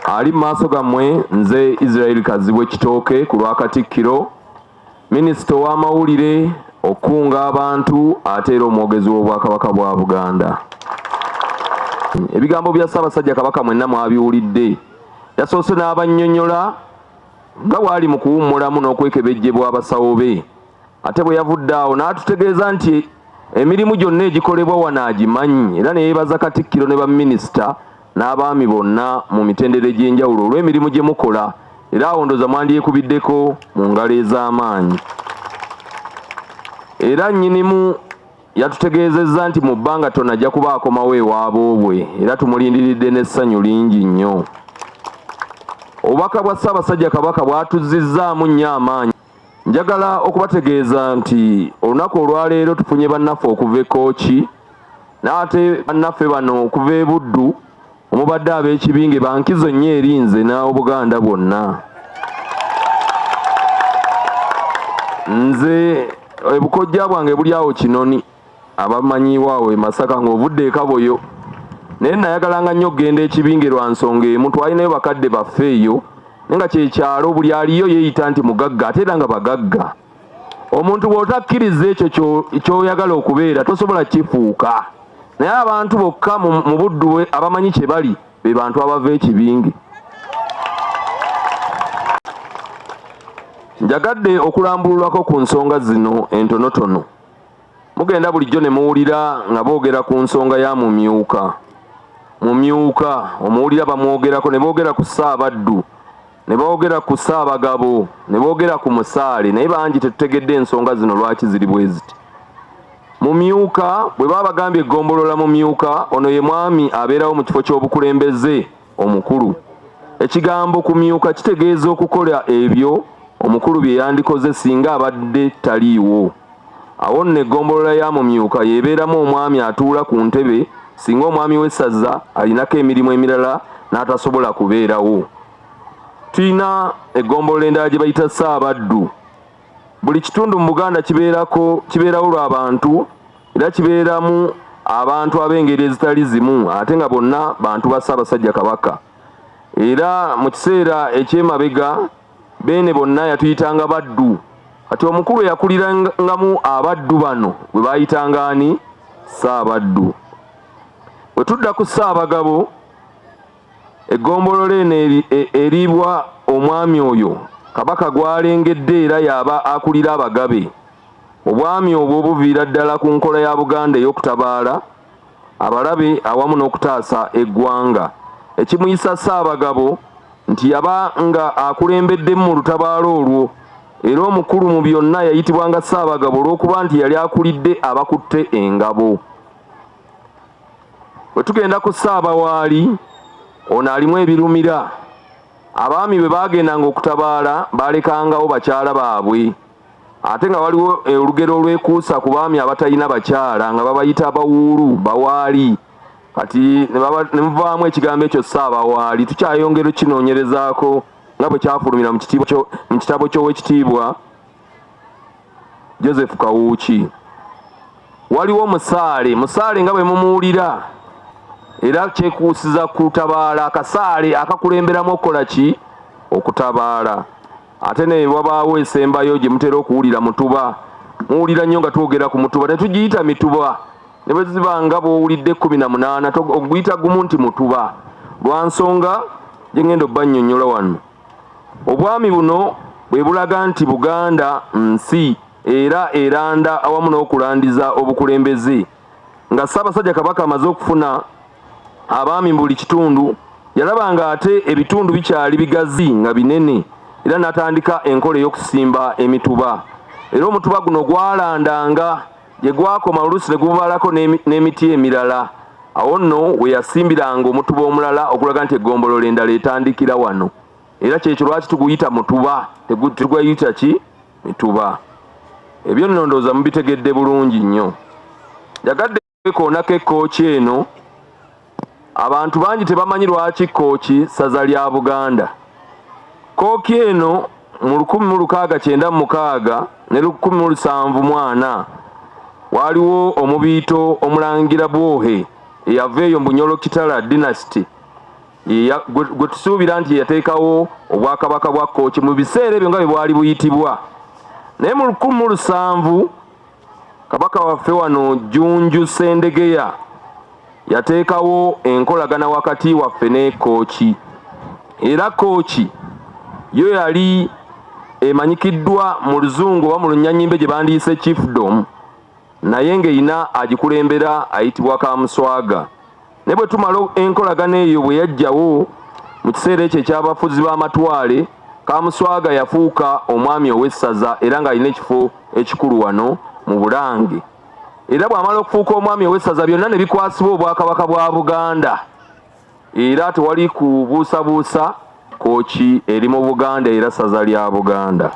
Ali mu maaso gammwe nze Israel Kazibwe Kitooke ku lwa Katikkiro, minisita ow'amawulire, okukunga abantu ate era omwogezi w'Obwakabaka bwa Buganda. Ebigambo bya Ssaabasajja Kabaka mwenna mwabiwulidde. Yasoose n'abannyonnyola nga bw'ali mu kuwummulamu n'okwekebejjebwa abasawo be. Ate bwe yavudde awo n'atutegeeza nti emirimu gyonna egikolebwa wano agimanyi era ne yeebaza Katikkiro ne baminisita n'abaami bonna mu mitendera egy'enjawulo olw'emirimu gye mukola era awo ndoza mwandyekubiddeko mu ngalo ez'amaanyi. Era nnyinimu yatutegeezezza nti mu bbanga ttono ajja kuba akomawo ewaboobwe era tumulindiridde n'essanyu lingi nnyo. Obubaka bwa Ssaabasajja Kabaka bwatuzzizzaamu nnyo amaanyi. Njagala okubategeeza nti olunaku olwaleero tufunye bannaffe okuva e Kooki n'ate bannaffe bano okuva e Buddu omubadde ab'ekibinge bankizo nnyo eri nze n'Obuganda bwonna. Nze ebukojja bwange buli awo Kinoni. Abamanyiiwo awo e Masaka ng'ovudde e Kaboyo. Naye nnayagalanga nnyo okugenda e Kibinge lwa nsonga emu, twalinayo bakadde baffe eyo naye nga kye kyalo buli aliyo yeeyita nti mugagga ate era nga bagagga. Omuntu bw'otakkiriza ekyo ky'oyagala okubeera tosobola kukifuuka. Naye abantu bokka mu Buddu abamanyi kye bali be bantu abava e Kibinge. Njagadde okulambululako ku nsonga zino entonotono. mugenda bulijjo ne muwulira nga boogera ku nsonga ya mumyuka mumyuka omuwulira bamwogerako ne boogera ku ssaabaddu ne boogera ku ssaabagabo ne boogera ku musaale naye bangi tetutegedde ensonga zino lwaki ziri bwe ziti mumyuka bwe baba bagambye eggombolola mumyuka ono ye mwami abeerawo mu kifo ky'obukulembeze Omukulu. Ekigambo kumyuka kitegeeza okukola ebyo omukulu bye yandikoze singa abadde taliiwo. Awo nno eggombolola ya Mumyuka y'ebeeramu omwami atuula ku ntebe singa omwami w'essaza alinako emirimu emirala n'atasobola kubeerawo. Tulina eggombolola endala gye bayita Ssaabaddu. Buli kitundu mu Buganda kibeerako kibeerawo lwa bantu era kibeeramu abantu ab'engeri ezitali zimu ate nga bonna bantu ba Ssaabasajja Kabaka era mu kiseera eky'emabega Beene bonna yatuyitanga baddu kati omukulu eyakulirangamu abaddu bano bwe baayitanga ani Ssaabaddu. Bwe tudda ku Ssaabagabo Eggombolola eno eriibwa omwami oyo Kabaka gw'alengedde era y'aba akulira Abagabe. Obwami obwo buviira ddala ku nkola ya Buganda ey'okutabaala abalabe awamu n'okutaasa eggwanga. Ekimuyisa Ssaabagabo nti yaba nga akulembeddemu mu lutabaalo olwo era omukulu mu byonna yayitibwanga Ssaabagabo olw'okuba nti yali akulidde abakutte engabo. bwe tugenda ku ssaabawaali ono alimu ebirumira abaami bwe baagendanga okutabaala baalekangawo bakyala baabwe ate nga waliwo eh, olugero olwekuusa ku baami abatalina bakyala nga babayita bawuulu bawaali kati ne muvaamu ekigambo ekyo ssaabawaali tukyayongera okukinoonyerezaako nga bwe kyafulumira mu kitabo ky'owekitiibwa Joseph Kawuuki waliwo musaale musaale nga bwe mumuwulira era kyekuusiza kutabaala akasaale akakulemberamu okukola ki okutabaala ate ne wabaawo esembayo gye mutera okuwulira mutuba muwulira nnyo nga twogera ku mutuba ne tugiyita mituba ne bwe ziba nga bw'owulidde ekkumi na munaana oguyita gumu nti mutuba lwa nsonga gye ngenda obbannyonnyola wano Obwami buno bwe bulaga nti Buganda nsi era eranda awamu n'okulandiza obukulembeze. Nga Ssaabasajja Kabaka amaze okufuna abaami mu buli kitundu, yalaba ng'ate ebitundu bikyali bigazi nga binene era n'atandika enkola ey'okusimba emituba era omutuba guno gwalandanga gye gwakoma oluusi ne gububalako n'emiti emirala awo nno we yasimbiranga omutuba omulala okulaga nti eggombolola endala etandikira wano era kyekyo lwaki tuguyita mutuba tegutugayita ki mituba ebyo nno ndooza mubitegedde bulungi nnyo njagadde kwekoonako ekkooki eno Abantu bangi tebamanyi lwaki Kkooki ssaza lya Buganda. Kkooki eno mu lukumi mu lukaaga kyenda mu mukaaga ne lukumi mu lusanvu mu ana waaliwo omubiito Omulangira Bwohe eyava eyo mu Bunyolo Kitala Dynasty gwe tusuubira nti yateekawo Obwakabaka bwa Kkooki mu biseera ebyo nga bwe bwali buyitibwa. Naye mu lukumi mu lusanvu Kabaka waffe wano Jjunju Ssendegeya yateekawo enkolagana wakati waffe ne Kooki era Kooki yo yali emanyikiddwa mu luzungu oba mu lunyanyimbe gye bandiyise chiefdom naye ng'erina agikulembera ayitibwa Kamuswaga. naye bwe tumala enkolagana eyo bwe yajjawo mu kiseera ekyo eky'abafuzi b'amatwale kamuswaga yafuuka omwami ow'essaza era ng'alina ekifo ekikulu wano mu bulange era bw'amala okufuuka omwami ow'essaza byonna ne bikwasibwa obwakabaka bwa buganda era tewali kubuusabuusa Kooki eri mu Buganda era ssaza lya Buganda.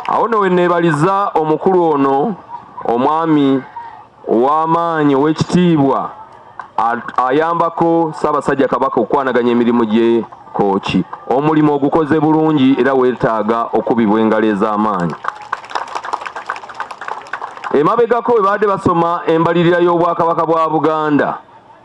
Awo nno we nneebaliza omukulu ono omwami ow'amaanyi ow'ekitiibwa ayambako Ssaabasajja Kabaka okukwanaganya emirimu gye Kooki. Omulimu ogukoze bulungi era weetaaga okubibwa engalo ez'amaanyi. Emabegako bwe baadde basoma embalirira y'Obwakabaka bwa Buganda,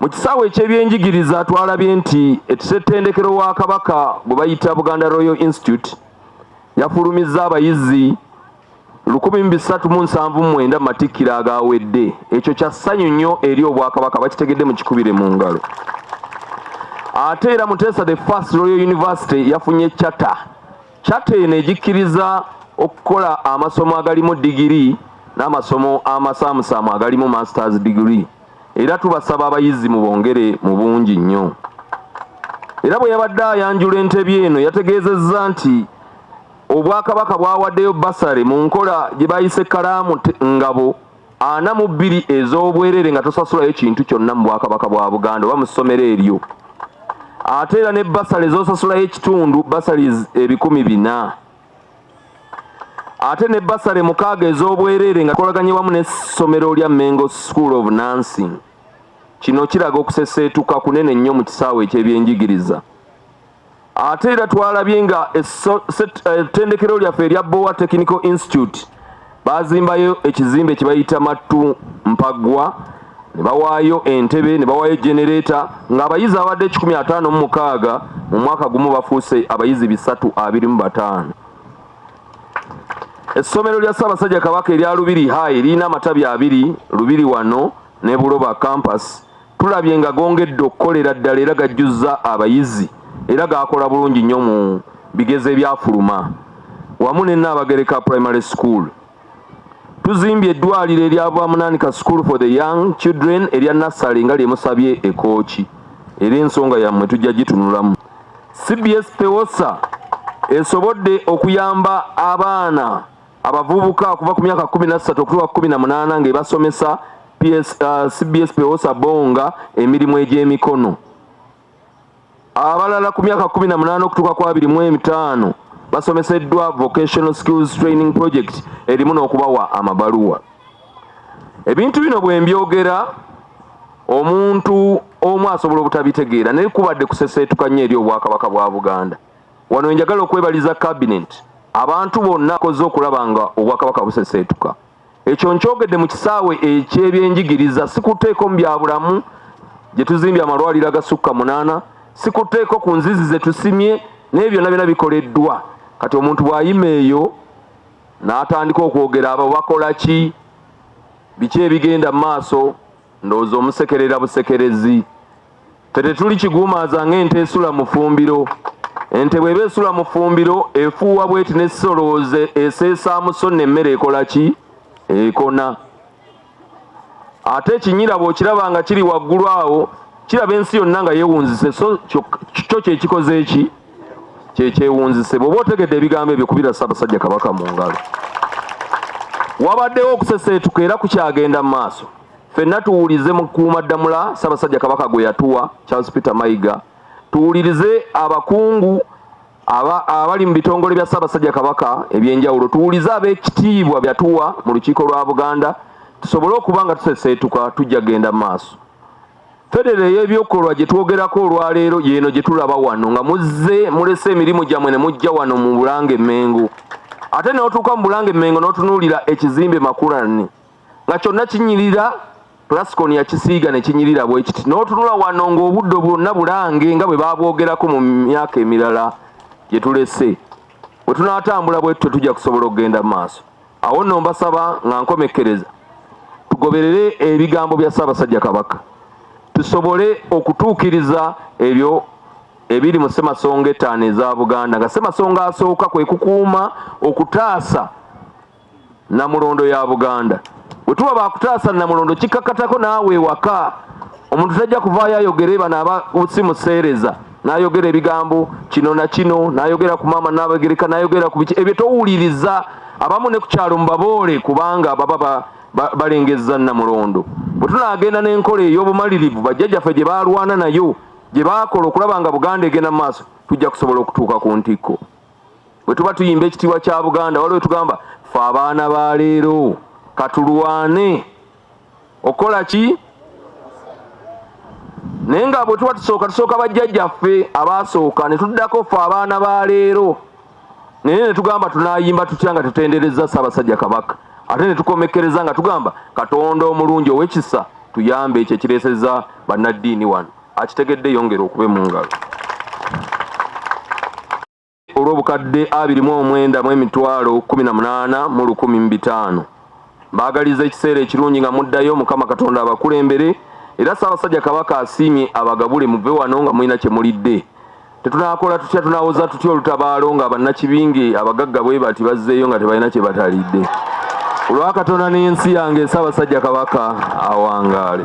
Mu kisaawe eky'ebyenjigiriza twalabye nti ekisettendekero wa Kabaka gwe bayita Buganda Royal Institute yafulumizza abayizi lukumi mu bisatu mu nsanvu mu mwenda mu matikkiro agaawedde. Ekyo kya ssanyu nnyo eri Obwakabaka bakitegedde mu kikubire mu ngalo. Ate era Muteesa the First Royal University yafunye charter Kyata eno egikkiriza okukola amasomo agalimu digiri n'amasomo amasaamusaamu agalimu masters digiri era tubasaba abayizi mu bongere mu bungi nnyo. Era bwe yabadde ayanjula entebi eno yategeezezza nti Obwakabaka bwawaddeyo bbasale mu nkola gye bayise Kalaamu Ngabo ana mu bbiri ez'obwereere nga tosasulayo kintu kyonna mu bwakabaka bwa buganda oba mu ssomero eryo ate era ne basale zosasulayo ekitundu basale ebikumi bina ate ne basale mukaaga ez'obwereere nga kolaganye wamu n'essomero lya mengo school of nansing kino kiraga okuseseetuka kunene nnyo mu kisaawe eky'ebyenjigiriza ate era twalabye nga ettendekero eh, lyaffe erya bowa technical institute bazimbayo ekizimbe kyebayita mattu mpaggwa ne bawaayo entebe ne bawaayo genereeta ng'abayizi abadde ekikumi ataano mu mukaaga mu mwaka gumu bafuuse abayizi bisatu abiri mu bataano essomero lya ssaabasajja kabaka erya lubiri hai lirina amatabi abiri lubiri wano ne buloba campus tulabye nga gongedde okukolera ddala era gajjuzza abayizi era gaakola bulungi nnyo mu bigezo ebyafuluma wamu ne Nnaabagereka Primary School. Tuzimbye eddwaliro erya Bwamunaanika School for the Young Children erya Nassale nga lyemusabye ekooki era ensonga yammwe tujja gitunulamu. CBS Pewosa esobodde okuyamba abaana abavubuka okuva ku myaka kumi na ssatu okutuuka ku kumi na munaana ng'ebasomesa PS, uh, CBS Pewosa Bonga emirimu egy'emikono abalala ku myaka kumi na munaana okutuuka ku abiri mu etaano basomeseddwa vocational skills training project erimu n'okubawa amabaluwa ebintu bino bwe mbyogera omuntu omu asobola obutabitegeera naye kubadde kuseseetuka nnyo eri obwakabaka bwa buganda Wano wenjagala okwebaliza cabinet abantu bonna akoze okulaba nga obwakabaka buseseetuka. Ekyo nkyogedde mu kisaawe eky'ebyenjigiriza, sikuteeko mu bya bulamu gye tuzimbye amalwaliro agasukka munaana, sikuteeko ku nzizi ze tusimye naye byonna byonna bikoleddwa. Kati omuntu bw'ayima eyo n'atandika okwogera abo bakola ki, biki ebigenda mu maaso, ndowooza omusekerera busekerezi. Ffe tetuli kiguumaaza ng'ente esula mu ffumbiro. Ente bw'eba esula mu ffumbiro efuuwa bw'eti n'esolooze eseesaamu so nno emmere ekola ki? Ekona. Ate ekinyira bw'okiraba nga kiri waggulu awo kiraba ensi yonna nga yeewunzise so kyo kye kikoze eki kye kyewunzise. Bw'oba otegedde ebigambo ebyo kubira Ssaabasajja Kabaka mu ngalo. Wabaddewo okuseseetuka era kukyagenda mu maaso. Fenna tuwulize mu kuuma ddamula Ssabasajja Kabaka gwe yatuwa Charles Peter Mayiga, tuwulirize abakungu abali mu bitongole bya Ssabasajja Kabaka ebyenjawulo, tuwulize ab'ekitiibwa byatuwa mu lukiiko lwa Buganda tusobole okuba nga tuseseetuka tujja genda maaso. Federo ey'ebyokolwa gye twogerako olwaleero yeeno gye tulaba wano nga muzze mulese emirimu gyammwe ne mujja wano mu Bulange Mmengo ate n'otuuka mu Bulange Mmengo n'otunuulira ekizimbe Makulani nga kyonna kinyirira plascon yakisiiga ne kinyirira bwe kiti n'otunula wano ng'obuddo bwonna bulange nga bwe baabwogerako mu myaka emirala gye tulese bwe tunaatambula bwe tutyo tujja kusobola okugenda mu maaso awo nno mbasaba nga nkomekkereza tugoberere ebigambo bya ssaabasajja kabaka tusobole okutuukiriza ebyo ebiri mu ssemasonga ettaano eza buganda nga ssemasonga asooka kwe kukuuma okutaasa namulondo ya buganda wetuba bakutaasa namulondo kikakatako naawe ewaka omuntu tajja kuvaayo ayogere bano aba simuseereza nayogera ebigambo kino na kino nayogera ku maama nabagereka nayogera ku biki ebyo towuliriza abamu ne ku kyalo mubaboole kubanga baba balengezza namulondo bwe tunaagenda n'enkola ey'obumalirivu bajjajjaffe gye baalwana nayo gye baakola okulaba nga buganda egenda mu maaso tujja kusobola okutuuka ku ntikko bwe tuba tuyimba ekitiibwa kya buganda waliwo tugamba fe abaana ba leero katulwane okukola ki naye nga bwe tuba tusooka tusooka bajjajjaffe abaasooka ne tuddako fe abaana ba leero naye ne tugamba tunayimba tutya nga tutenderezza ssaabasajja kabaka ate ne tukomekkereza nga tugamba katonda omulungi owekisa tuyambe ekyo ekireeseza bannaddiini wano akitegedde yongera okube mu ngalo olw'obukadde abiri mu omwenda mu emitwalo kumi na munaana mu lukumi mu bitaano mbaagaliza ekiseera ekirungi nga muddayo mukama katonda abakulembere era ssaabasajja kabaka asiimye abagabule muve wano nga mulina kye mulidde tetunaakola tutya tunaawoza tutya olutabaalo nga bannakibinge abagagga bwe bati bazzeeyo nga tebalina kye batalidde olwakatonda n'ensi yange ssaabasajja kabaka awangaale